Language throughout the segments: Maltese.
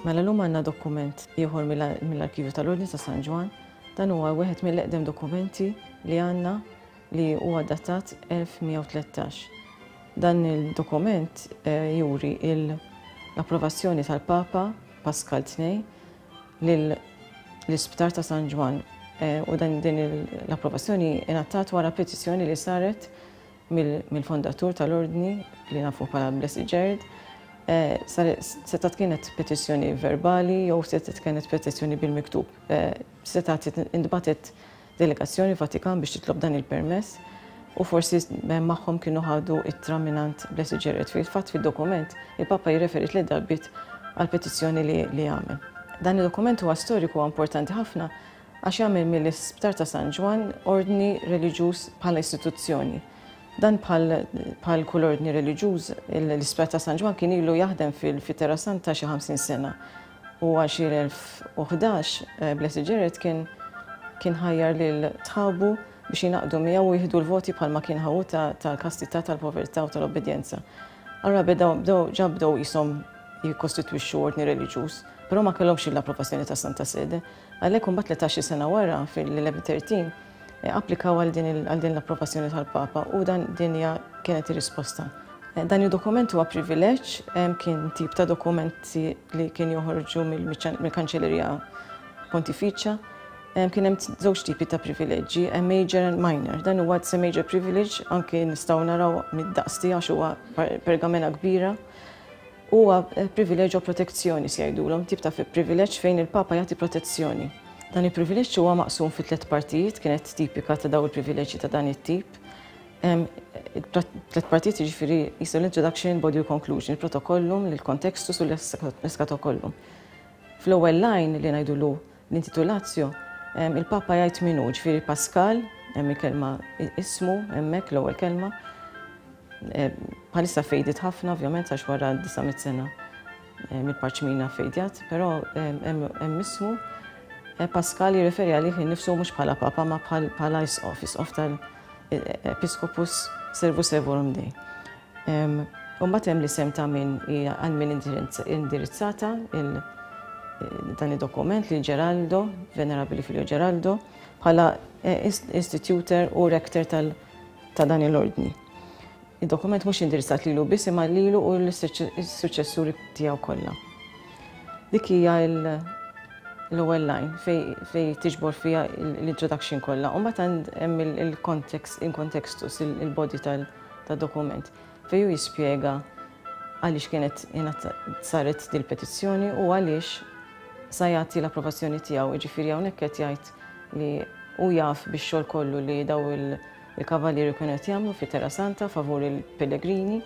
Mela l-lum għanna dokument ieħor mill-arkivju tal-Ordni ta' San Ġwan. Dan huwa wieħed mill-eqdem dokumenti li għanna li huwa datat 1113. Dan il-dokument eh, juri l-approvazzjoni tal-Papa Pascal II lill-Isptar ta' San Ġwann u din l-approvazzjoni ingħatat wara petizzjoni li saret mill-fondatur tal-Ordni li nafu bħala Blessed Jared. Setgħet kienet petizzjoni verbali jew setgħet kienet petizzjoni bil-miktub. Setgħet intbagħtet delegazzjoni Vatikan biex titlob dan il-permess u forsi magħhom kienu ħadu ittra mingħand Blessed Jared. Fil-fatt fid-dokument il-Papa jirreferi tliet darbiet għal petizzjoni li li għamel. Dan id-dokument huwa storiku huwa importanti ħafna għax jagħmel mill-Isptar ta' San Ġwann ordni reliġjuż bħala istituzzjoni. Dan bħal kull ordni reliġjuż, l-Isptar ta' San Ġwann kien ilu jaħdem fil-Terra Santa xi 50 sena U għal xi 1011, Blessed Jared kien kien ħajjar lil tħabu biex jingħaqdu miegħu u jieħdu l-voti bħalma kien ħa hu ta' tal-kastità, tal-povertà u tal-obbedjenza. Allura bedaw bdew ġa bdew qishom jikkostitwixxu ordni reliġjuż, però ma kellhomx l-approvazzjoni tas-Santa Sede. Għalhekk imbagħad tletax-il sena wara, fil-1113, applikaw għal din l-approvazzjoni tal-Papa u dan din hija kienet ir-risposta. Dan id-dokument huwa privileġġ, kien tip ta' dokumenti li kien joħorġu mill-Kanċellerija Pontifiċja. Kien hemm żewġ tipi ta' privileġġi, major and minor. Dan huwa it's a major privilege, anke nistgħu naraw mid-daqs tiegħu għax huwa pergamena kbira. Huwa privileġġ u protezzjoni se jgħidulhom, tip ta' privileġġ fejn il-Papa jagħti protezzjoni. Dan il-privileġġ huwa maqsum fi tliet partijiet, kienet tipika ta' daw il-privileġġi ta' dan it-tip. Tliet partijiet jiġifieri jisu l-introduction, body u conclusion, il-protokollum, l-kontextus u l-eskatokollum. Fl-ewwel lajn li ngħidulu L-intitulatio, il-Papa jgħid min hu, ġifieri Paskal, hemm il-kelma ismu hemmhekk l-ewwel kelma. Bħalissa fejdit ħafna ovvjament għax wara 900 sena mill-parċmina fejdjat, però hemm ismu Eh, Pascal jirreferi għalih nifsu mhux bħala papa ma bħala jisqof, jisqof tal-Episcopus Servus Evorum Dei. Imbagħad hemm l-isem ta' min hija għal min indirizzata dan id-dokument lil Geraldo, Venerabili Filio Geraldo, bħala istituter u rektor ta' dan il-ordni. Id-dokument mhux indirizzat lilu biss imma lilu u l-suċessuri tiegħu kollha. Dik hija l-ewwel line fej tiġbor fiha l-introduction kollha. U mbagħad hemm il-context, in contextus, il-body tal- ta' dokument fejn hu jispjega għaliex kienet saret din il-petizzjoni u għaliex sa jagħti l-approvazzjoni tiegħu, jiġifieri hawnhekk qed jgħid li hu jaf bix-xogħol kollu li daw il-kavalieri kienu qed jagħmlu fi Terra Santa favur il-pellegrini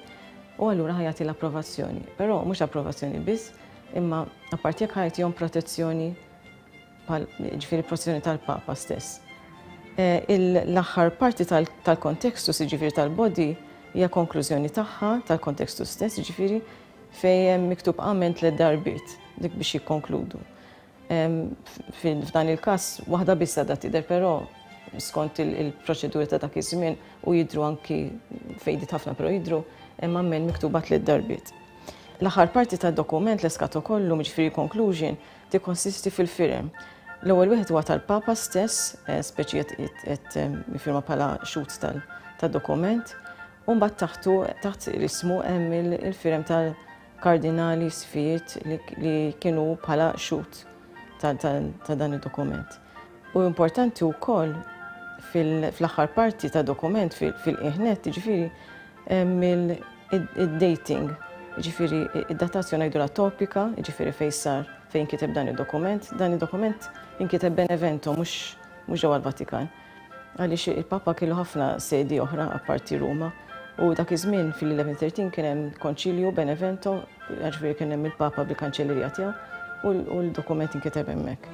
u allura ħa jagħti l-approvazzjoni. Però mhux approvazzjoni biss, imma apparti jekk ħajtihom protezzjoni bħal jiġifieri l-proċessjoni tal-Papa stess. L-aħħar parti tal-kontextus, jiġifieri tal-body, hija konklużjoni tagħha, tal-kontextus stess, jiġifieri fejn hemm miktub amen tliet darbiet, dik biex jikkonkludu. F'dan il-każ waħda biss għadha tidher, però skont il-proċeduri ta' dak iż-żmien u jidhru anki faded ħafna però jidhru, hemm amen miktuba tliet darbiet. L-aħħar parti tad-dokument, l-eskatokollum, jiġifieri l-conclusion, Tikkonsisti fil-firem. L-ewwel wieħed huwa tal-Papa stess, eh, speċi qed eh, jifirma bħala xut tad-dokument, u mbagħad taħtu taħt ismu hemm il-firem tal-kardinali sfijiet li kienu bħala xut ta' dan id-dokument. U importanti wkoll fil-aħħar parti ta' dokument fil-qiegħ nett, jiġifieri hemm id-dating, jiġifieri id-datazzjoni ngħidulha topika, jiġifieri fejn sar, fejn inkiteb dan id-dokument. Dan id-dokument inkiteb Benevento mhux ġewwa l-Vatikan. Għaliex il-Papa kellu ħafna sedi oħra apparti Ruma u dak iż-żmien fil-1113 kien hemm konċilju Benevento, jiġifieri kien hemm il-Papa bil-kanċellerija tiegħu u l-dokument inkiteb hemmhekk.